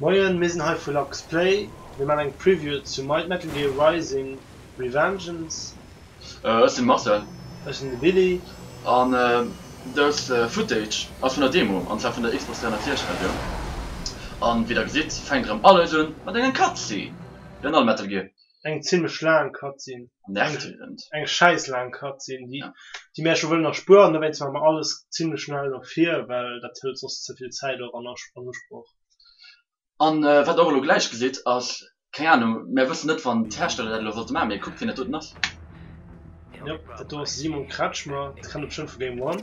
Moien, mir sinn hei vu Lux Play. Mir man eng Preview zu Might Metal Gear Rising, Revengeance. Ech sinn Marcel. Ech sinn de Billy. An dës Footage ass vun der Demo, an zwar vun der Xbox 360 Versioun. An wéi der gesitt fänkt erëm alles un mat enger Cutscene, wéi an all Metal Gear. eng zimlech laang Cutscene, eng schäiss laang Cutscene, déi déi mir ächtech wëllen erspueren, dowéinst maache mer alles zimlech schnell no vir, well dat hëlt soss ze vill Zäit och an an Usproch. A wat Der och elo gläich gesitt ass, keng Ahnung, mär wëssen net wann d'Hersteller dat elo wollte maachen, mee kuckt wien dat doten ass. Jop, dat do ass de Simon Kretschmer, dee kennt Der bestëmmt vu Game One.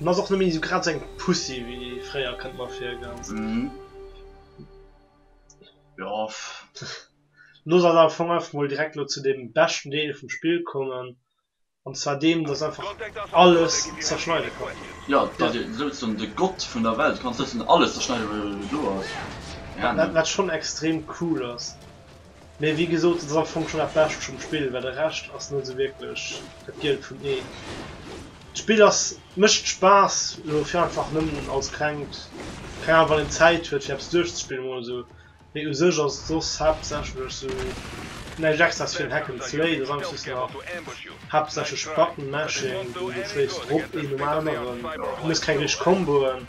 En ass och nëmme sou grad seng Pussy wéi fréier, kënnt mer vir, ganz. Jo. Looss eis am Fong einfach mol direkt elo zu deem beschten Deel vum Spill kommen, an zwar deem, dass einfach alles zerschneide kann. Jo, dass ee souzesoen de Gott vun der Welt kann, souzesoen alles zerschneide wou do ass. Wat schonn extrem cool ass. Mee wéi gesot, dat ass am Fong schonn dat Bescht vum Spill, well de Rescht ass net esou wierklech dat Gielt vun ee. D'Spill ass, mécht Spaass elo fir einfach nëmmen als klengt, keng Ahnung, wann een Zäit huet fir eppes duerchzespillen emol esou. Mee u sech ass et soss haaptsächlech esou näischt extraes fir en Hack and Slay, et ass einfach soss nach haaptsächlech Button Mashing, du schléis drop een nom aneren, du hues keng richteg Komboen.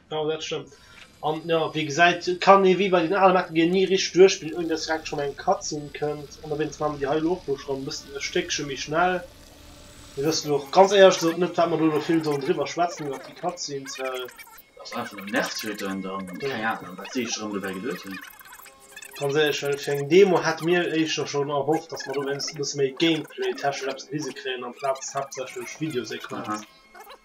Jo dat stëmmt. An jo wéi gesäit kann ee wéi bei den ale Metal Gear ni richteg duerchspillen ouni dass direkt schonn eng Cutscene kënnt. An owéinst maache mir déi hei elo och elo schonn bëssen e Stéckche méi schnell. Mir wëssen elo och ganz éierlech gesot net wat mer do elo vill sollen driwwer schwätzen iwwert déi Cutscenes, well. Ass einfach nëmmen nervtötend an keng Ahnung wat si sech erëm dobäi geduet hunn. Ganz éierlech, well fir eng Demo hätte mir éischter schonn erhofft dass mer do wéinstens e bësse méi Gameplay technesch eppes gewise kréien amplaz haaptsächlech Videosequenz.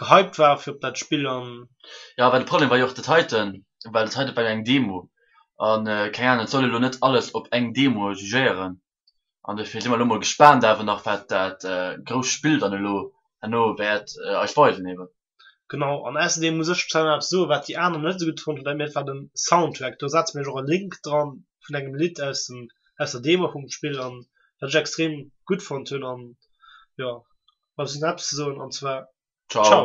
gehypt waren fir op dat Spill an. Jo, well de Problem war jo och dat heiten, well dat heiten war jo eng Demo an keng Ahnung, et soll ee lo net alles op eng Demo jugéieren an dofir si mer elo mol gespaant awer nach wat dat grousst Spill dann elo herno wäert eis weisen eben. Genau, an ausserdeem muss ech zwar nach eppes soen, wat déi aner net esou gutt fonnt hunn, dat war den Soundtrack. Do setze mir iech och e Link dran vun engem Lidd aus dem aus der Demo vum Spill an wat ech extrem gutt fonnt hunn an. jo, bleift eis net eppes ze soen an zwar Ciao!